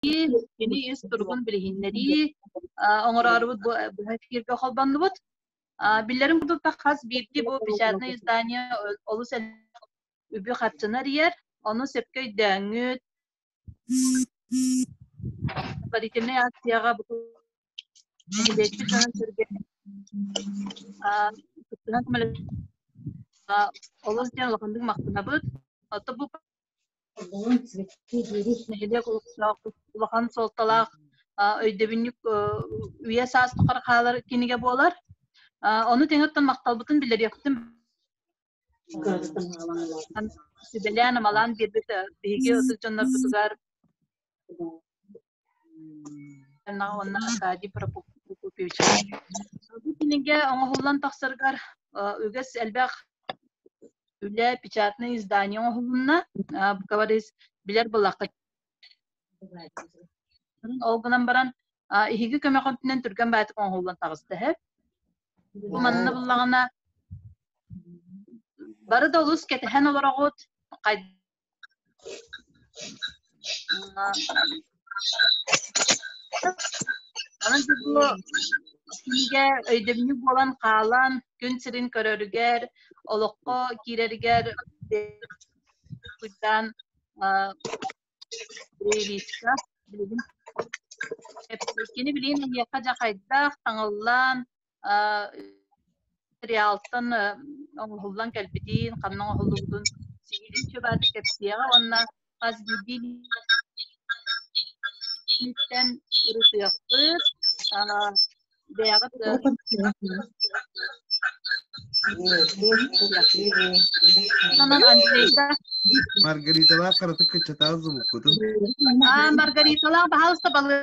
Кини үс туругун билиһиннэрии оҥороорубут быһа эфиргэ холбоннубут. Биллэрин курдук хас биирдии бу печатное издание олус үбү-харчыны арыйар, ону сөпкө өйдөөҥҥүт, предварительнай акцияҕа бу нэһилиэкпит дьонун-сэргэ кыттыһан көмөлөһө олус диэн улаханнык махтанабыт. Оттон бу нэһилиэк олохтоох улахан суолталаах өйдөбүнньүк үйэ саас тухары хаалар кинигэ буолар. Ону тэҥэттэн махталбытын билэриэхпитин сүбэлээн амалаан биэрбит биһиги ытык дьоннорбутугар уонна Аркадий Прокопьевич Сорду кинигэ оҥоһуллан тахсаргар үгэс элбэх үлэ печатное издание оҥоһулунна букабарис билэр былаххыт ол гынан баран иһиги көмөҕүтүнэн түргэн баатык оҥоһуллан таҕыста эһэп манна буллаҕына бары да олус кэтэһэн олороҕут Кинигэ өйдөбүнньүк буолан хаалан күн сирин көрөрүгэр, олоххо киирэригэр уйдаан релизка билигин кини билигин эһиэхэ дьахайдах таҥыллаан материалтан оҥоһуллан кэлбитин, ханна оҥоһуллубутун сиһилин чөбаатык кэпсиэҕэ уонна хас биирдии ниттэн ырытыахпыт, бэйэҕит Маргариталаах кыратык кыччатаан звуккутун. Аа, Маргариталаах, баһаалыста балык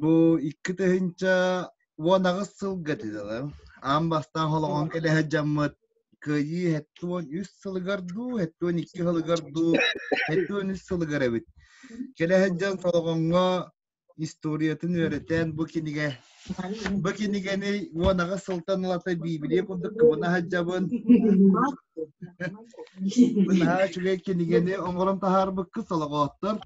Бу икки тыһыынча уон аҕыс сылга титалар аан бастаан холоҕон кэлэһэ дьаммыт кыайыы хэттэ уон үс сылыгар дуу, хэттэ уон икки сылыгар дуу, хэттэ уон үс сылыгар эбит. Кэлэһэ дьон Солоҕоҥҥо историятын үөрэтэн бу кинигэ бу кинигэни уон аҕыс сылтан ылата биибилиэ курдук кыбына саджабын наһаа үчүгэй кинигэни оҥорон таһаарбыккыт солоҕооттор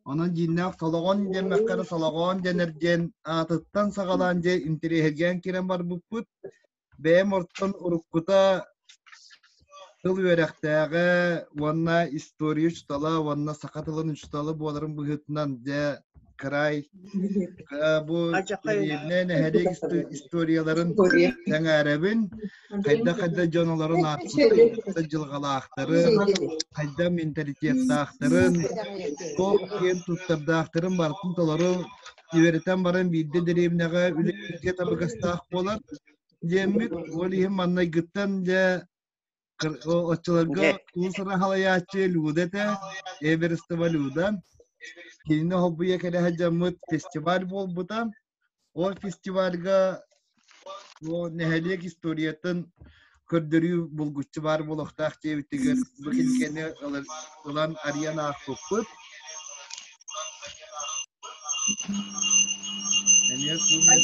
Онон дьииннээх Толоҕон диэммэххэ эрэ Толоҕоон дэнэр диэн аатыттан саҕалаан дьэ интэриэһиргээн киирэн барбыппыт. Бэйэм ортон уруккута тыл үөрэхтээҕэ уонна история учутала уонна саха тылын учутала буоларын быһыытынан дьэ край бу ириэнэ нэһэлиик историяларын сэҥээрэбин хайда-хайда дьон олорон ааспыттыы, хайда дьылҕалаахтарын, хайда менталитеттаахтарын, туох киэн туттардаахтарын барытын толору үөрэтэн баран биирдэ дэриэбинэҕэ үлэ табыгастаах буолар диэммит ол иһин маннайгыттан дьэ оччолорго уус-уран халайааччы Люда этэ, Эверестова Люда. Кинини холбуйа кэлэ сылдьаммыт фестиваль буолбута. Ол фестивальга ол нэһилиэк историятын көрдөрүү булгуччу баар буолуохтаах диэбитигэр бу кинигэни ылан арыйан аахпыппыт. Эмиэ суумуос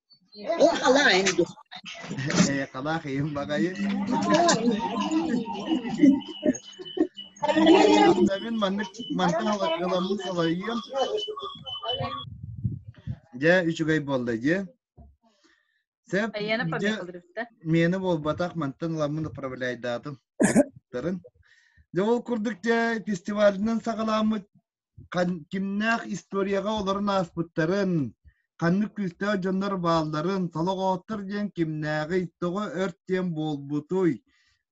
Эҕалаан дуу Эҕалаах ийым баҕайы Мин маннык мантан ыламмыт солойуом Дьэ үчүгэй буолда дьэ Сэп мені буолбатах мантан ыламмын управляйдаатым Дьэ ол курдук дьэ фестивалынан саҕаламмыт кимнээх историяҕа олорон ааспыттарын, ханнык күүстээх дьоннор баалларын, солоҕооттор диэн кимнээҕий, тоҕо өрт диэн буолбутуй,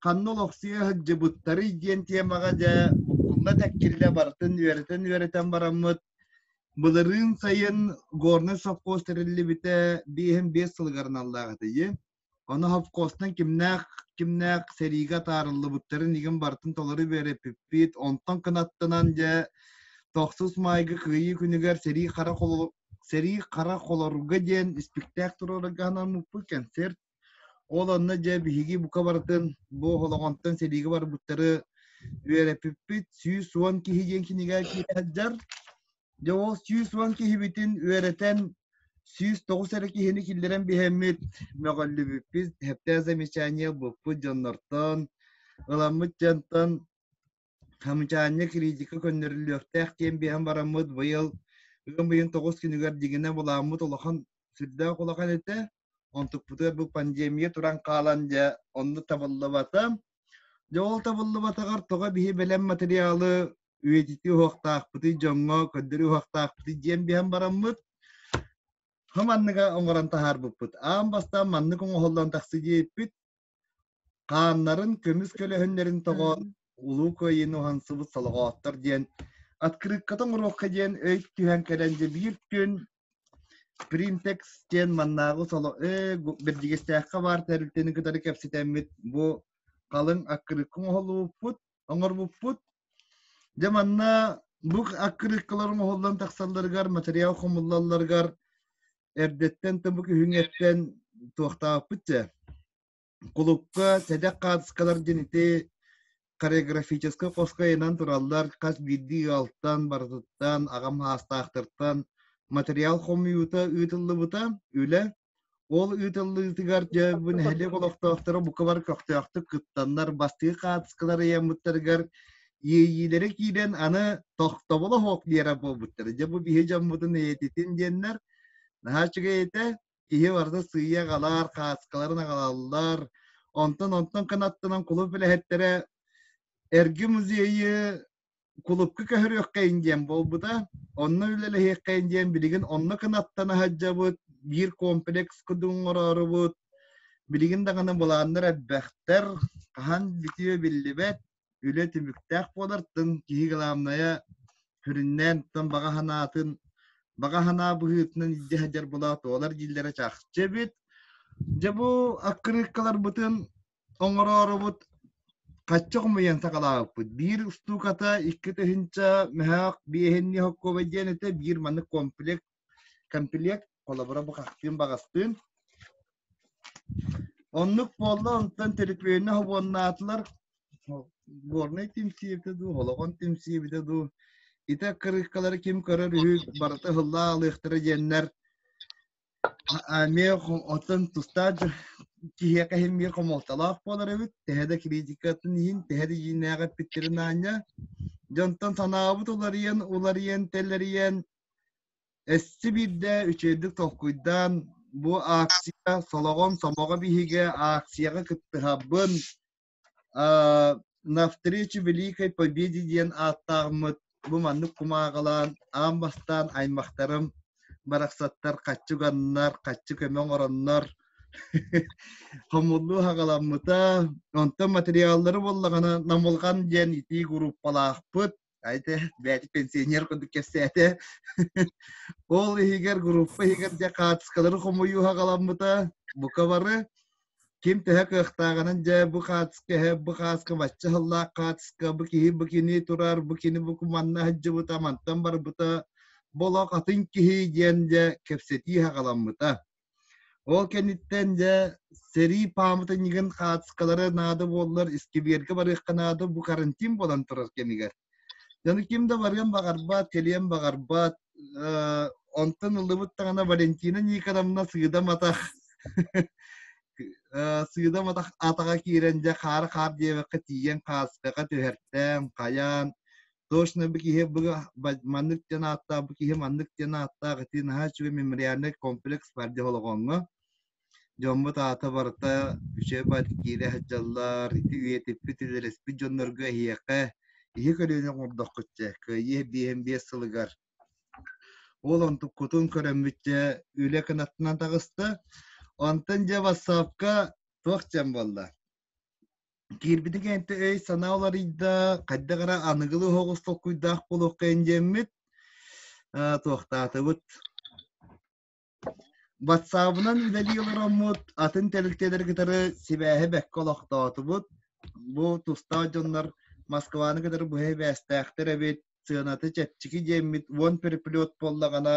ханна олохсуйа сылдьыбыттарый диэн тиэмэҕэ дьэ буккулла тэккиллэ барытын үөрэтэн-үөрэтэн бараммыт. Былырыын сайын Горный совхоз тэриллибитэ биэһин биэс сылыгар аналлаах этэ Ону Хопковтан кимнээх кимнээх сэриигэ атаарыллыбыттарын игин бартын толору биэрэппиппит. Онтон кынаттынан дьэ тохсус майгы кыйыы күнүгэр сэрии хара холор сэрии хара холорга диэн испиктээк туруорарга анаммыппыт концерт. Ол онно дьэ биһиги бука барытын бу Холоҕонтон сэриигэ барбыттары үөрэппиппит. Сүүс уон киһи диэн кинигэ киирэ сылдьар. Дьэ ол сүүс уон киһибитин үөрэтэн, сүүс тоҕус эрэ киһини киллэрэн биһэммит, мөҕүллүбүппүт, хэптээх замечание булпут дьоннортон, ыламмыт дьонтон хамчаанньа критика көннөрүллүөхтээх диэн биһэн бараммыт быйыл ыам ыйын тоҕус күнүгэр дьиҥинэ булааммыт улахан сүрдээх улахан этэ. Онтукпутугар бу пандемия туран хаалан дьэ оннук табыллыбата. Дьэ ол табыллыбатаҕар тоҕо биһи бэлэм материалы үйэтитии уһуохтаахпытый дьоҥҥо көрдөрүү уһуохтаахпытый диэн биһэн бараммыт хам манныга оҥорон таһаарбыппыт аан бастаан маннык оҥоһуллан тахсыы диэппит хааннарын көмүс көлөһүннэрин тоҕоон улуу кыайыыны уһансыбыт солоҕооттор диэн открытката оҥоруохха диэн өй түһэн кэлэн дьэ биир күн Принтекс диэн маннааҕы соло «Ээ, Бэрдьигэстээххэ баар тэрилтэни кытары кэпсэтэммит бу халыҥ аккырыыкка оҥоһуллубуппут, оҥорбуппут. Дьэ манна бу аккырыыккалар оҥоһуллан тахсалларыгар, материал хомуллалларыгар эрдэттэн да бу күһүҥҥүттэн туохтаабыппыт дьэ кулукка сэдэх хаартыскалар диэн ити хореографическай хоско айынан тураллар хас биирдии ыалтан барытыттан аҕам саастаахтартан материал хомуйуута ыытыллыбыта үлэ ол ыытыллыытыгар дьэбу нэһилиэк олохтоохторо букабар көхтөөхтүк кыттаннар бастыы хаартыскалар ыйаммыттарыгар иэйиилэрэ киирэн аны тохтобола хоп диэра буолбуттара дьэ бу биһи дьоммутун эйэтитин диэннэр наһаа үчүгэй этэ киһи барыта сыыйа аҕалар, хааскаларын аҕалаллар. Онтон онтон кынаттынан кулуп үлэһиттэрэ эрги музейы кулупка көһөрүөххэйин диэн буолбута. Онно үлэлэһиэххэйин диэн билигин онно кынаттан аһаддьабыт, биир комплекс кудун оҥороорубут. Билигин даҕаны былааннар элбэхтэр, хаһан бүтүө биллибэт. үлэ түбүктээх буолартын киһи главная сүрүннээн тон баҕа санаатын баҕа санаа быһыытынан илдьэ сылдьар болоотолар дииллэрэ чахчы эбит дьэ бу аккырыыккаларбытын оҥороорубут хачча хомуйан саҕалаабыппыт биир устууката икки тыһыынча мөһөөх биэһинни хоккуобай диэн этэ биир маннык комплект Кэмпилиэк холобура бухахтыын-баҕастыын Оннук буолла, онтон төлөпүөннэ хобуоннаатылар. Горнай түмсиэбитэ дуу, Холоҕон түмсиэбитэ дуу. Ити кырыыккалары ким көрөр үһү, барыта ыһыллаалыахтара диэннэр. Эмиэ оттон тустаах киһиэхэ иһиммиэ хомолтолоох буолар эбит. Тэһэ да критикатын иһин, тэһэ да ииннээҕи эппиттерин аанньа. Дьонтон санаабыт уларыйан, уларыйан, тэлэрийэн, Өссө биирдэ үчэйдик толкуйдаан бу акция солоҕон сомоҕо биһигэ акцияҕа кыттыһабын навстречу великой победе диэн ааттаахмыт бу маннык кумааҕылаан аан бастаан аймахтарым барахсаттар хаччы уганнар хаччы көмө оҥороннор хомуллуу хаҕаламмыта онтон материаллары буоллаҕына намылҕан диэн итии группалаахпыт Айда, бэт пенсионер кудук кэсэте. Ол иһигэр группа иһигэр де хаатыскалары хомуюха галаммыта букавары ким төһө кыахтааганын дьэ бу хаатыска эһэ бу хааска бачча хыллаах хаатыска бу киһи бу кини турар бу кини бу куманна хадьжыбыта мантан барбыта болох атын киһи диэн дьэ кэпсэтии хагаламмыта Ол кэнниттэн дьэ сэрии пааматынньыгын хаачыстыкалара наада буоллар искибиэргэ барыахха наада бу карантин буолан турар кэмигэр. Дьону ким да барыан баҕарбат, кэлиэн баҕарбат. Онтон ыллыбыт даҕана Валентина Никоновна сыыдаматах сыыдаматах атаҕа киирэн дьэ хаары хаар диэбэккэ тиийэн хаастака түһэртээн, хайаан точно бы киһи быга маннык диэн ааттаах бу киһи маннык диэн ааттаах ити наһаа үчүгэй мемориальный комплекс бар дьэ холоҕоҥҥо дьоммут аата барыта үчэбат киирэ сылдьаллар ити үйэтиппит үлэлэспит дьоннорго эһиэхэ иһи көлүөнэ оҥордоххут дьэ кыайыы биэһин биэс сылыгар ол онтук кутун көрөммүтчэ үлэ кынаттынан таҕыста онтон дьэ вассапка туох дьэн буолла Киирбитин кэннэ өй-санаа уларыйда, хайдах эрэ аныгылыы оһоҕос толкуйдаах буолуоххайын диэммит, туохтаатыбыт. Ватсаабынан үлэлии олороммут, атын тэрилтэлэри кытары сибээһи бэккэ олохтоотубут. Бу тустаах дьоннор Москваны кытары быһа сибээстээхтэр эбит. сыаната чэпчэки диэммит уон переплет буоллаҕына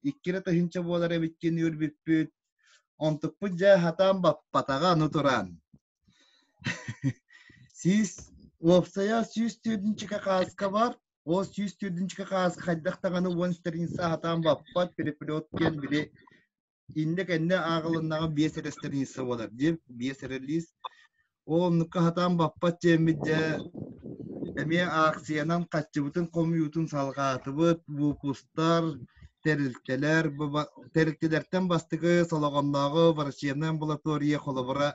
икки эрэ тыһыынча буолар эбиккин үөрбүппүт онтукпут дьэ хатаан баппатаҕа аны туран сүүс уопсайа сүүс төрдүнчүкэ хааска бар ол сүүс төрдүнчүкэ хааска хайдах даҕаны уон стриница хатаан баппат переплет диэн били инде кэнне ааҕылыннаҕа биэс эрэ страница буолар диэн биэс эрэ лиис ол оннукка хатаан баппат диэммит дьэ эмиэ аахсыйанан хаччыбытын хомуйуутун салҕаатыбыт буукустар тэрилтэлэр тэрилтэлэртэн бастакы солоҕоннооҕу врачебнай амбулатория холобура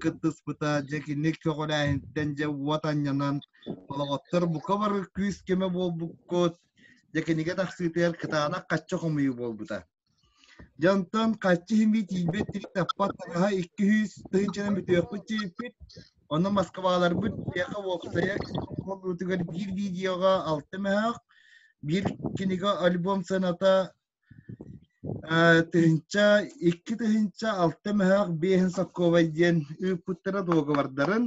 кыттыспыта дьэ киник көҕүлээһинтэн дьэ уот анньанан олоҕоттор бука бары күүс көмө буолбуккут дьэ кинигэ тахсыытыгар кытаанах хачча хомуйуу буолбута Дьонтон хаччы иһимии тиийбэт тирик таппат тагаһа икки сүүс тыһыынчанан бүтүөхпүт чиэппит, ону Москваларбыт киэхэ уопсайа кылгыытыгар биир видеоҕа алта мөһөөх, биир кинигэ альбом сыаната тыһыынча, икки тыһыынча, алта мөһөөх, биэһин сокуобай диэн ыыппыттара дуогабардарын,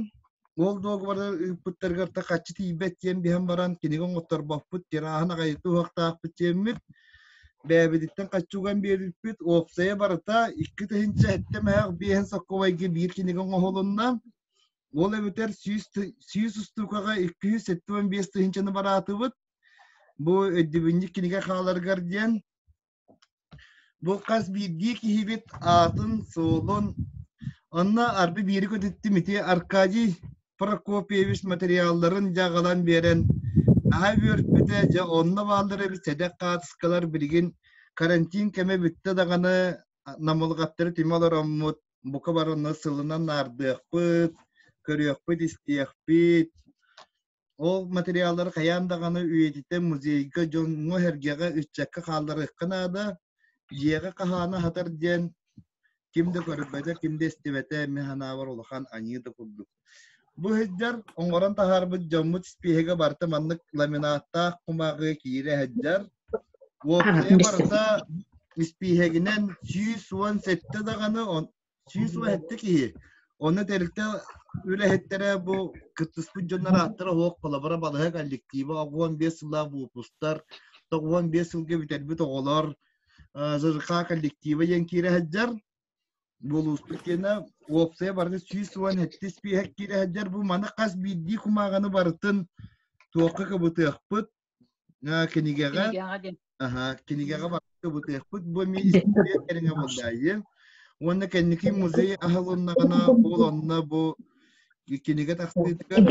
Уол дуогабардар ыыппыттарыгар да хаччы тиийбэт диэн биһэн баран кинигэ оҥотторбоппут, тирааһын аҕайы туһахтаахпыт диэммит, бээбититтэн хаччуган биэрбиппит, уопсайа барыта икки тыһынча эттэ мэһэх биэһин соккобайга биир кинигэ оҥоһулунна. Ол эбэтэр сүүс, сүүс устуукаҕа икки жүз сэттэ уон биэс тыһынчаны бараатыбыт. Бу өйдөбүнньүк кинигэ хааларгар диэн Бу хас биирдии киһибит аатын, суолун, онно арды биири көтүттүм ити Аркадий Прокопьевич материалларын дьаҕалан биэрэн наһаа үөрпүтэ дьэ онно бааллар эбит сэдэх хаартыскалар билигин карантин кэмэ бүттэ даҕаны намылҕаттары түмэ олороммут бука бар онно сылынан наардыахпыт көрүөхпүт истиэхпит Ол материаллары хайаан даҕаны үйэтитэн музейга дьоҥҥо-сэргэҕэ ыччакка хаалларыахха наада, дьиэҕэ хаһаана аһатар диэн ким да көрбөтө, ким да истибэтэ эмиэ санаабар улахан аньыы да курдук. Бу сылдьар оҥорон таһаарбыт дьоммут испиэһэгэ барыта маннык ламинаттаах кумааҕыга киирэ сылдьар. Уопсайа барыта испииһэгинэн сүүс уон сэттэ даҕаны сүүс уон сэттэ киһи. Онно тэрилтэ үлэһиттэрэ бу кыттыспыт дьоннор ааттара оһох холобура балыһа коллектива уон биэс сыллаах выпустар, уон биэс сылга бүтэрбит оҕолор ЖРК коллектива диэн киирэ сылдьар буолуустук киэнэ уопсайа барыта сүүс уон сэттис пиэһэ киирэ сылдьар бу маны хас биирдии кумааҕыны барытын туохха кыбытыахпыт кинигэҕэ аха кинигэҕэ барыта бытыахпыт бу министрия кэриҥэ булдаайым уонна кэнники музей аһылыннаҕына ол онно бу кинигэ тахсыытыгар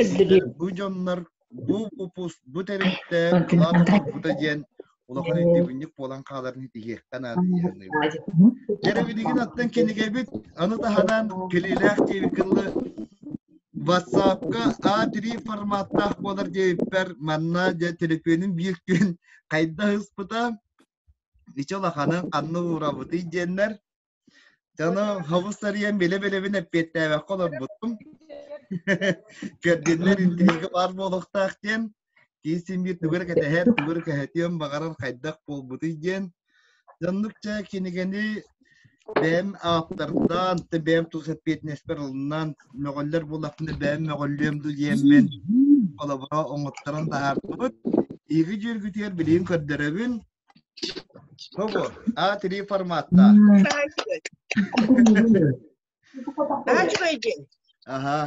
бу дьоннор бу упус бу тэрилтэ кылаат турбута диэн улахан өйдөбүнньүк буолан хааларын итиһиэхтэн аадыйыаныыбыт. Эрэбилигин аттан кинигэбит аны таһынан килиилээх диэбит кылы WhatsApp-ка A3 форматтаах буолар диэбиппэр, манна дьэ төлөпүөнүм биир күн хайдах ыспыта, ичи улаханын ханна уурабытый диэннэр, дьону хобус сарыйан билэ-билэбин эппиэттээбэккэ олорбутум. Пердиннэр интиһигэ баар буолуохтаах диэн киис симбиир тугу эрэ кэтэһэр тугу эрэ кэһэтиэн баҕарар хайдах буолбутуй диэн дьоннук чэ кинигэни бэйэм ааптардаан бэйэм тус эппиэтинэспэр ылынан мөҕөллөр булахпына бэйэм мөҕүллүөм дуу диэммин холобура оҥотторон таһаартыбыт ииги дьүөргүтүгэр билигин көрдөрөбүн того а три форматта Ачугай день. Ага.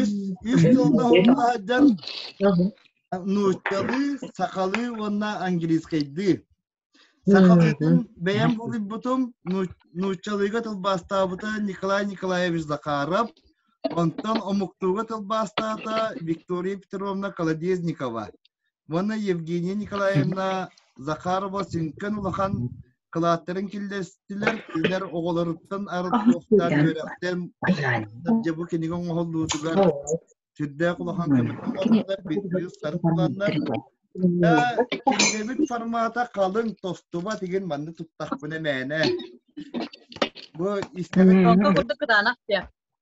Үс, үс тылга хомула сылдьар нууччалыы, сахалыы уонна английскайдыы. Сахалыытын бэйэм буруйбутум, нууччалыыга тылбаастаабыта Николай Николаевич Захаров, онтон омуктууга тылбаастаата Виктория Петровна Колодезникова. Уонна Евгения Николаевна Захарова сүҥкэн улахан кылааттарын киллэстилэр. Кинилэр оҕолоруттан арыттыахтаан үөрэхтэн дьэ бу кинигэ оҥоһуллуутугар сүрдээх улахан көмөлөһөллөр, бүттүү сарсыланнар. Кинигэбит формата халыҥ, тостубат игин манны туттахпына мээнэ. Бу истэбит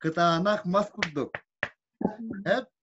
кытаанах мас курдук. Эп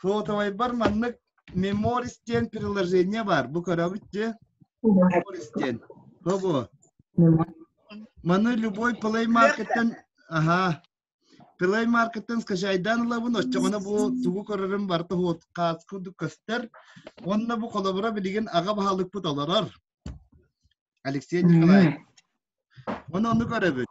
Шотовайбар маннык Memories диэн приложение бар. Бу көрөбүт дии. Memories диэн. Тобо. Маны любой play marketten аха Play marketten скачайдан ылабын, оччоҕуна бу тугу көрөрүм барта хуот каас курдук көстөр. Онно бу холобура билигин аҕа баһылыкпыт олорор. Алексей Николаев. Оны ону көрөбүт.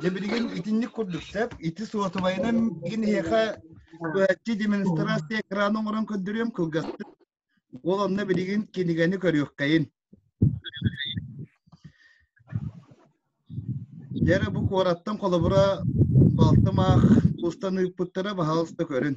Дьэ билигин итинник курдук сөп ити суотубайынан мин эһиэхэ быһаччы демонстрация экрана оҥорон көрдөрүөм кылгастык ол онно билигин кинигэни көрүөххэйин дьэ бу куораттан холобура балтым аах устан ыыппыттара баһаалыста көрүн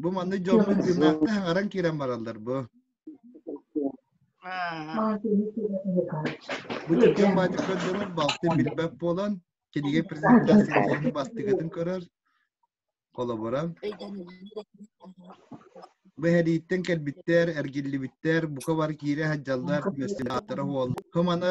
Бу манны дьоммут гимнастка хаҥаран киирэн бараллар бу. Бу дьон баатыктан дьонор балтын билбэт буолан, кинигэ презентацияны бастыгатын көрөр, холобуран. Бэһэрииттэн кэлбиттэр, эргиллибиттэр, бука бар киирэ сылдьаллар, мөссинатора уол. Хым аны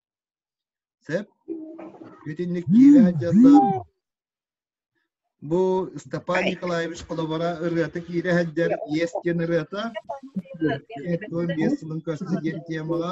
Сөп? Итинник киирэ дьаллар. Бу Степан Николаевич холобура ырыата киирэ сылдьар Иэс диэн ырыата. Туон биэс сылын көрсө диэн темаҕа.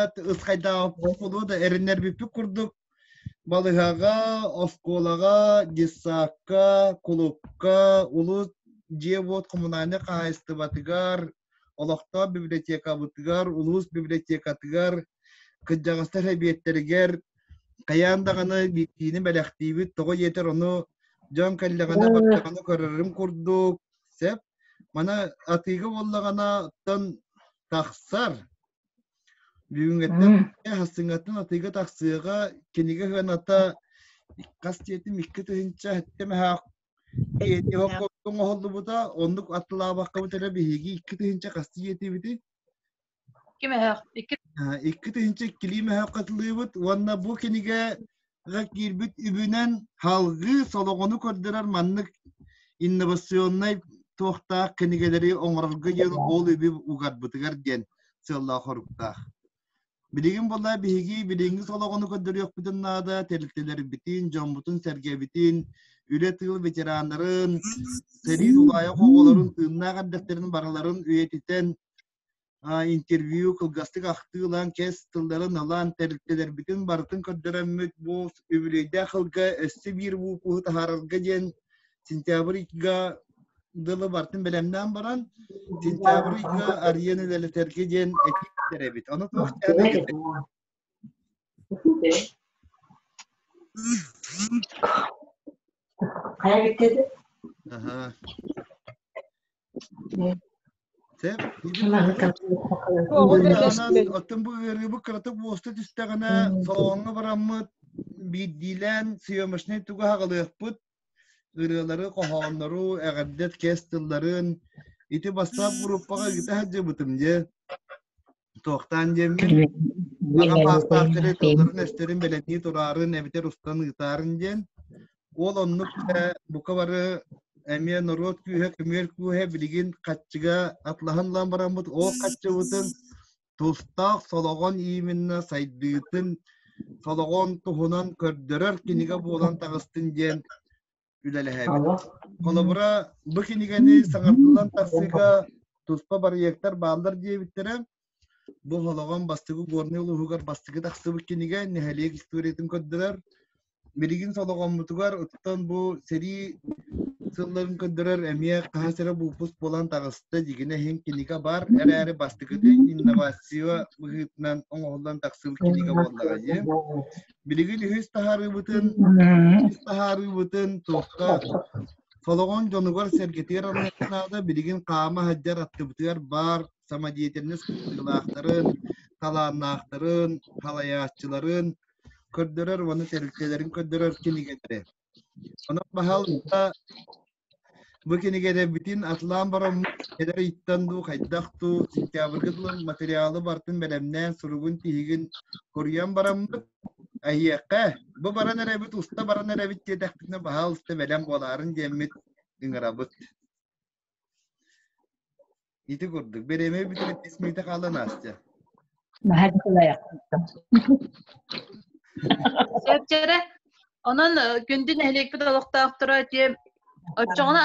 Эт ыскайдааҕы оскуола да эриннэрбиппит курдук балыһаҕа, оскуолаҕа, детсадка, кулукка, улуус дьиэ-уот коммунальнай хаһаайыстыбатыгар, олохтоох библиотекабытыгар, улуус библиотекатыгар, кырдьаҕастар эбиэттэригэр хайаан даҕаны биирдиини бэлэхтиибит, тоҕо диэтэр ону дьон кэллэҕинэ бардаҕына көрөрүм курдук, сөп. Мана атыыга буоллаҕына оттон тахсар Бүгүҥҥэттэн хастыҥаттан атыыга тахсыаҕа, кинигэ ыаната хас диэтим икки тыһынча эмэһэх оҥоһуллубута, оннук аттылаабаккабыт эрэ биһиги икки тыһынча хасты диэтибити. Ким эһэх? Икки тыһынча иккилии мэһэх хатылыыбыт уонна бу кинигэ haa киирбит үбүнэн салгыы солоҕону көрдөрөр маннык инновационнай туохтаах кинигэлэри оҥорорго диэн ол үбү угарбытыгар диэн сыаллаах-хоруктаах. Билигин була биһиги билиҥҥи солоҕону көрдөрүөхпүтүн наада, тэрилтэлэрбитин, дьоммутун сэргэбитин, үлэ тыыл ветераннарын, сэрии тулаайах оҕолорун тыыннаах эрдэхтэрин барыларын үйэтитэн, интервью кылгастык ахтыы ылан кэс тылларын ылан тэрилтэлэрбитин барытын көрдөрөммүт бу үбүлүөйдээх ылга өссө биир буукуһу таһаарарга диэн сентябрь икка дылы бартын бэлэмнээн баран сентябрь икка арена үлэлэтэргэ диэн этиттэр эбит ону Хайа кетти? Аха. Те? Оттон бу ыарыыбы кыратык буоста түстэҕинэ, салоҥҥа бараммыт, биирдиилээн съемочнай туга хаҕылыахпыт, ырыалары, хоһооннору, эҕэрдэ кэс тылларын ити бастаах группаҕа ыгыта сылдьыбытым дьэ туохтаан диэммин аҕа паастаахтары тылларын өстөрүн бэлэнии тураарын эбэтэр устан ыытарын диэн ол оннук э, бука бары эмиэ норуот күүһэ көмүөл күүһэ билигин хаччыга атлаһан лан бараммыт ол хаччыбытын тустаах Солоҕон Ииминэ сайдыытын, Солоҕон туһунан көрдөрөр кинигэ буолан таҕыстын диэн үлэлэһэбит. Холобура, бу кинигэни саҥардылан тахсыыга туспа барыйыактар бааллар диэбиттэрэ, бу Солоҕон бастыгы Горнай улууһугар бастыгы тахсыбыт кинигэ нэһилиэк историятын көрдөрөр, билигин содоҕоммутугар оттон бу сэрии сылларын көрдөрөр эмиэ хаһыс эрэ буупус буолан таҕыста дигине иһин кинигэ бар эрээри бастакыты инновация быһыытынан оҥоһуллан тахсыбыт кинигэ буоллаҕа дии билигин үһүс таһаарыыбытын үһүс таһаарыыбытын туохха солоҕон дьонугар сэргэтиэр аныах наада билигин хаама сылдьар аттыбытыгар баар самодеятельность кыттыылаахтарын талааннаахтарын салайааччыларын көрдөрөр уонна тэрилтэлэрин көрдөрөр кинигэтэрэ. Онон баһалта бу кинигэтэбитин Атлан Бороммут эдэр ыйыттан дуу, хайдах дуу, сентябрьга дылын материалы бартын бэлэмнээн суругун тиһигин коруйан бараммыт, Айыахха, бу баран эрэбит, уста баран эрэбит диэтэхпитинэ баһаалыста бэлэм буолаарын диэммит ыҥырабыт. Ити курдук, бириэмэ бүтэрэн ис мүйтэ хаалан Настя. Наһаа дьулайахтым. Сөпчөрө. Онон күндү нэһилиэкпит олохтоохторо отчоҕуна